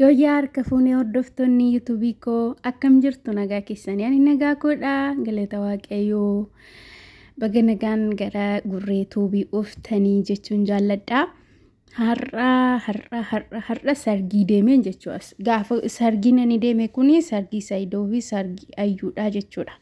Yooyyaa harka fuunee hordoftoonni yuutuubii koo akkam jirtu nagaa keessanii ani nagaa koodha galata waaqayyoo baga nagaan gara gurree tuubii uftanii jechuun jaalladha. Har'a har'a har'a har'a sargii deemeen jechuudha. Gaafa sargiin ani deeme kuni sargii Saayidoo fi sargii Ayyuudhaa jechuudha.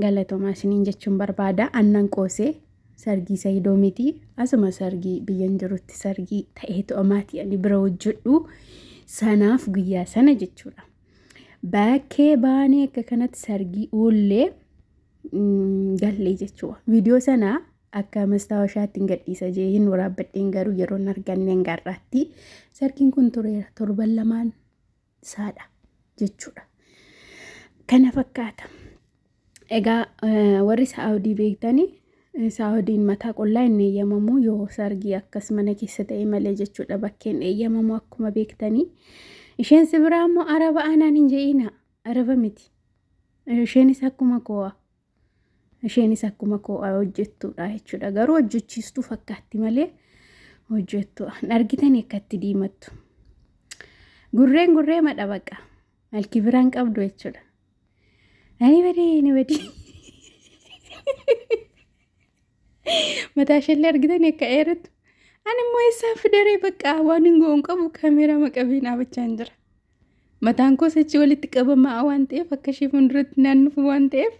Galatomaa isiniin jechuun barbaada. Annan qoosee sargii sayidoo miti. Asuma sargii biyyan jirutti sargii ta'eetu amaatii ani bira hojjedhu. Sanaaf guyyaa sana jechuudha. Bakkee baanee akka kanatti sargii uullee gallee jechuudha. Viidiyoo sana akka mastaawashaatti hin gadhiisa jee hin waraabbadheen garuu yeroo hin arganneen garraatti sargiin kun tureera torban lamaan saadha jechuudha. Kana fakkaata. Egaa eh, warri saa'odii beektanii eh, saa'odiin mataa qullaa hin eeyyamamu yoo sargii akkas mana keessa ta'e malee jechuudha bakkeen eeyyamamu akkuma beektanii. Isheen si biraa immoo araba aanaan hin je'ina araba miti. Eh, Isheenis akkuma koo'a Isheenis akkuma koo hojjettuudha jechuudha. Garuu hojjechiistuu fakkaatti malee hojjettu. Argitanii akkatti diimattu. Gurreen gurree madha baqa. Malki biraan qabdu jechuudha. Ani badee ni badii. Mataa isheellee argitanii akka eerattu. Ani immoo eessaan fidaree baqa waan hin goon qabu kameeraa maqabee dhaabachaa hin jira. Mataan koos achi walitti qabamaa waan ta'eef akka ishee fuulduratti naan dhufu waan ta'eef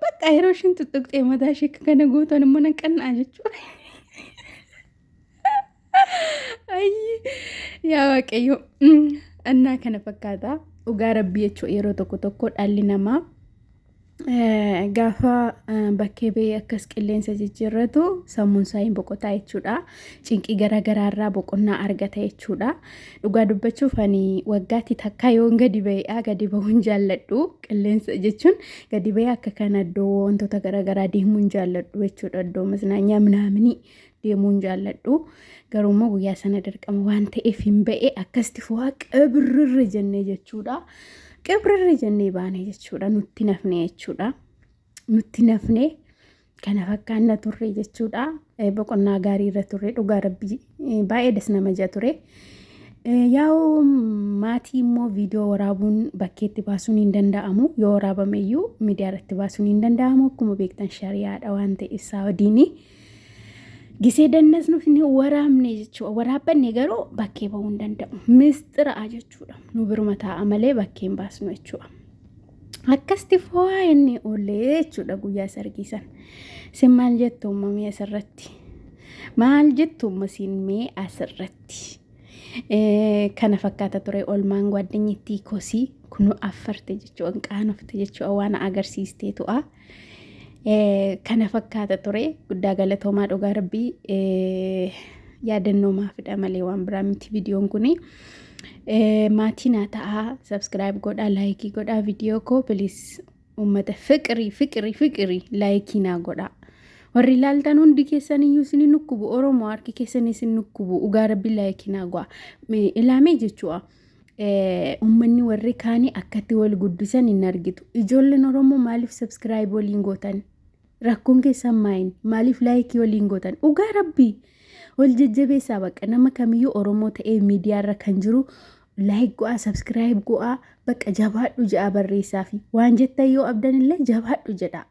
bakka yeroo ishiin tuttuqxee mataa ishee akka kana gootan immoo nan qannaa jechuudha. Ayyi yaa waaqayyo annaa kana fakkaata dhugaa rabbii jechuudha yeroo tokko tokko dhaalli namaa Gaafa bakkee ba'ee akkas qilleensa jijjiirratu sammuun isaa hin boqotaa jechuudha. Cinqii garaa garaa irraa boqonnaa argata jechuudha. Dhugaa dubbachuuf ani waggaatti takkaa yoon gadi ba'eedha. Gadi ba'uun jaalladhu. Qilleensa jechuun gadi ba'ee akka kana iddoo wantoota garaa garaa deemuun jaalladhu jechuudha. Iddoo maznanyaa minaaminii deemuun jaalladhu garuu immoo guyyaa sana dirqama waan ta'eef hin ba'e akkasitti fo'aa qibrirri jennee jechuudha qibrirri jennee baane jechuudha nutti nafne jechuudha nutti nafne kana fakkaanna turre jechuudha boqonnaa gaarii irra turre dhugaa rabbii baay'ee das nama jaa ture. Yaa'u maatii immoo viidiyoo waraabuun bakkeetti baasuun hin danda'amu yoo waraabame iyyuu miidiyaa irratti baasuun hin danda'amu akkuma beektan shari'aadha waan ta'e isaa wadiini. Gisee dannasnu ni waraabne jechuudha. Waraabbanne garuu bakkee bahuu hin danda'u. Mistira'a jechuudha. Nu biruma taa'a malee bakkee hin baasnu jechuudha. Akkasti foo'aa inni oolee jechuudha guyyaa sargii san. Sin maal jettu uumamee asirratti? Maal jettu uumasiin mee asirratti? Kana fakkaata ture olmaan gwaaddanyi ittii kosii kunu affarte jechuudha qaanofte jechuudha waan agarsiistee tu'a. kana fakkaata ture guddaa galatoomaa dhugaa rabbii yaadannoo maafidha malee waan biraa miti viidiyoon kuni. Maatii naa ta'aa sabskiraayib godhaa laayikii godhaa viidiyoo koo bilis uummata fiqirii fiqirii fiqirii laayikii naa godhaa. Warri ilaaltan hundi keessan iyyuu isin nukkubu Oromoo harki keessan isin nukkubu dhugaa rabbii laayikii naa godhaa. Ilaamee jechuudha. ummanni warri kaanii akkatti wal guddisan hin argitu. Ijoolleen Oromoo maaliif sabskiraayib waliin gootan? Rakkoon keessan maayin? Maaliif laayikii waliin gootan? Dhugaa rabbii! Wal jajjabeessaa bakka nama kamiyyuu Oromoo ta'ee miidiyaarra kan jiru laayik go'aa, sabskiraayib go'aa, bakka jabaadhu ja'a barreessaafi. Waan jettan yoo abdan illee jabaadhu jedha.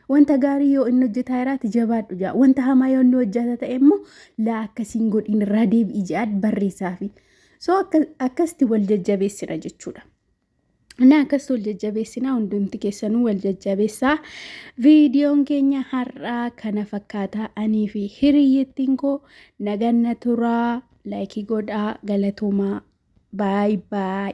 Wanta gaarii yoo inni hojjetaa jiraate jabaadhu ja'a. Wanta hamaa yoo inni hojjeta ta'e immoo laa akkasiin godhiin irraa deebi'i ja'aad barreessaafi. So akkasitti wal jajjabeessina jechuudha. Inni akkas wal jajjabeessinaa hundumti keessanuu wal jajjabeessaa. Viidiyoon keenya har'aa kana fakkaataa anii fi hiriyyittiin koo naganna turaa laayikii godhaa galatoomaa baay baay.